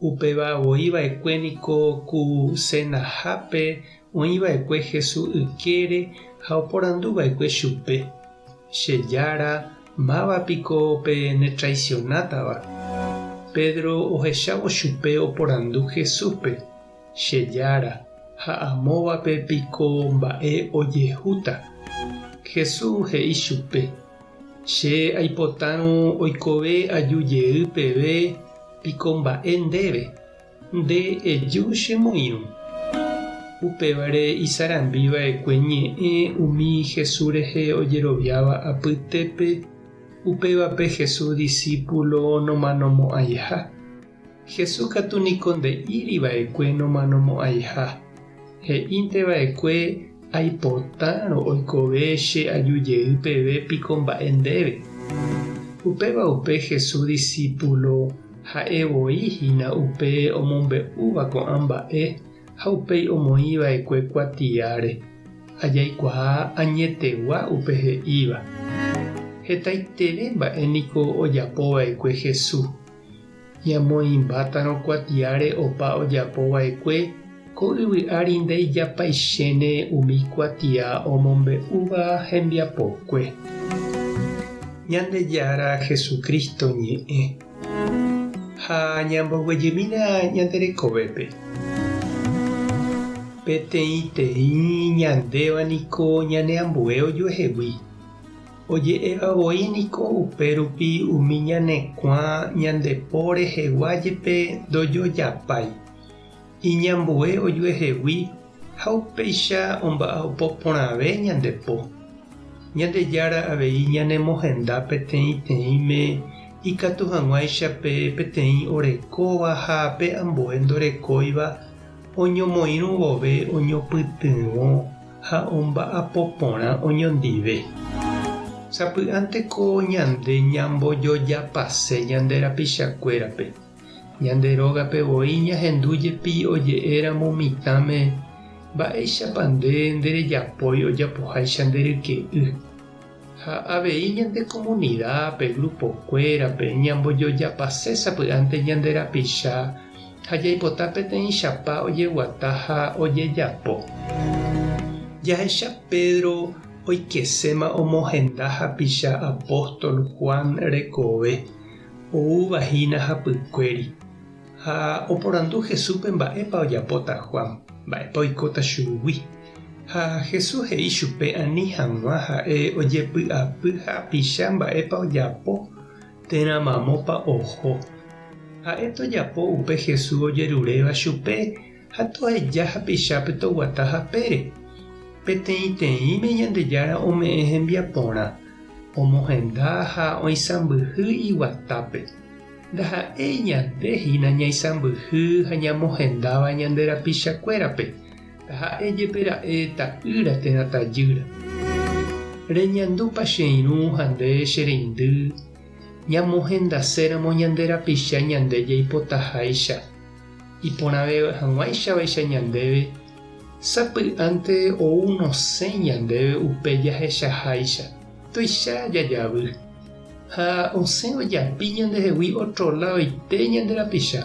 Upéva voi va'ekue niko ku senahápe oĩ va'ekue Hesu ykére ha oporandu va'ekue chupe, Che Jára, máva piko pe netraisionátava? Pedro ohechávo chupe oporandu Jesúspe, Che Jára, ha amóvape piko mba'e ojehúta? Jesús he'i chupe, Che aipotárõ oikove aju jey peve, piko mba'e ndéve? Nde eju che moirũ. Upévare isarambi va'ekue ñe'ẽ umi Jesús rehe ojeroviáva apytépe, upévape Jesús disípulo nomanomo'ãiha. Jesús katu niko nde'íri va'ekue nomanomo'ãiha. He'ínte va'ekue, Aipotárõ oikove che aju jey peve piko mba'e ndéve. Upéva upe Jesús disípulo ha'e voi hína upe omombe'úva ko'ã mba'e ha upéi omoĩ va'ekue kuatiáre. Ajaikuaa añetegua upe he'íva. Hetaiterei mba'e niko ojapo va'ekue Jesús. Ñamoĩmbátarõ kuatiáre opa ojapo vaekue, ko yvy ári ndeijapaichéne umi kuatia omombe'úva hembiapokue. Ñandejára Jesucristo ñe'ẽ. Ha ñamboguejymína ñande rekovépe. Peteĩteĩ ñandéva niko ñane ambue ojuehegui. Oje'éva voi niko upérupi umi ñanekuã ñande po rehegua jepe ndojojapái. Iñambue ojuehegui ha upéicha omba'apo porãve ñande po. Ñandejára avei ñanemohenda peteĩteĩme ikatu hag̃uáicha pe peteĩ orekóva ha pe ambue ndorekóiva oñomoirũ vove oñopytyvõ ha omba'apo porã oñondive. Sapy'ánteko ñande ñambojojapase ñande rapichakuérape, ñande rógape voi ñahendu jepi oje'éramo mitãme, Mba'éichapa nde nderejapói ojapoháicha nde ryke'y? Ha avei ñande komunida, pe grupokuérape, ñambojojapase sapy'ánte ñande rapicha ha jaipota peteĩchapa ojeguata ha ojejapo. Jahecha Pedro oikeséma omohenda hapicha apóstol Juan rekove, oúva hína hapykuéri. Ha oporandu Jesúspe mba'épa ojapóta Juan, mba'épa oikóta chugui. Ha Jesús he'i chupe ani hag̃ua ha'e ojepy'apy ha apicha mba'épa ojapo térã mamópa oho. Ha'e tojapo upe Jesús ojeruréva chupe ha toheja hapichápe toguata hapére. Peteĩteĩme Ñandejára ome'ẽ hembiaporã, omohenda ha oisãmbyhy iguatápe. Ndaha'éi ñande hína ñaisãmbyhy ha ñamohendáva ñande rapichakuérape, taha'e jepe ra'e ta'ýra térã tajýra. Reñandúpa che irũ ha nde che reindy ñamohendaséramo ñande rapicha ñande jaipotaháicha? Iporãve hag̃uáichavaicha ñandéve, sapy'ánte ou nosẽ ñandéve upe jahechaháicha, tuicha jajavy. Ha osẽ ojapi ñandehegui ótro ladoite ñande rapicha.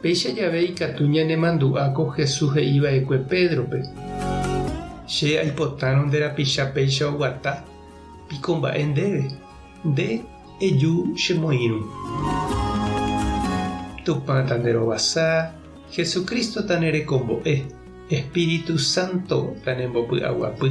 Péicha jave ikatu ñanemandu'a ko Jesús he'i va'ekue Pédrope, Che aipotárõ nde rapicha péicha oguata, piko mba'e ndéve, nde eju che moĩrũ. Tupã ta nde rovasa, Jesús Cristo ta ne rekombo'e, Espíritu Santo ta ne mbopy'aguapy.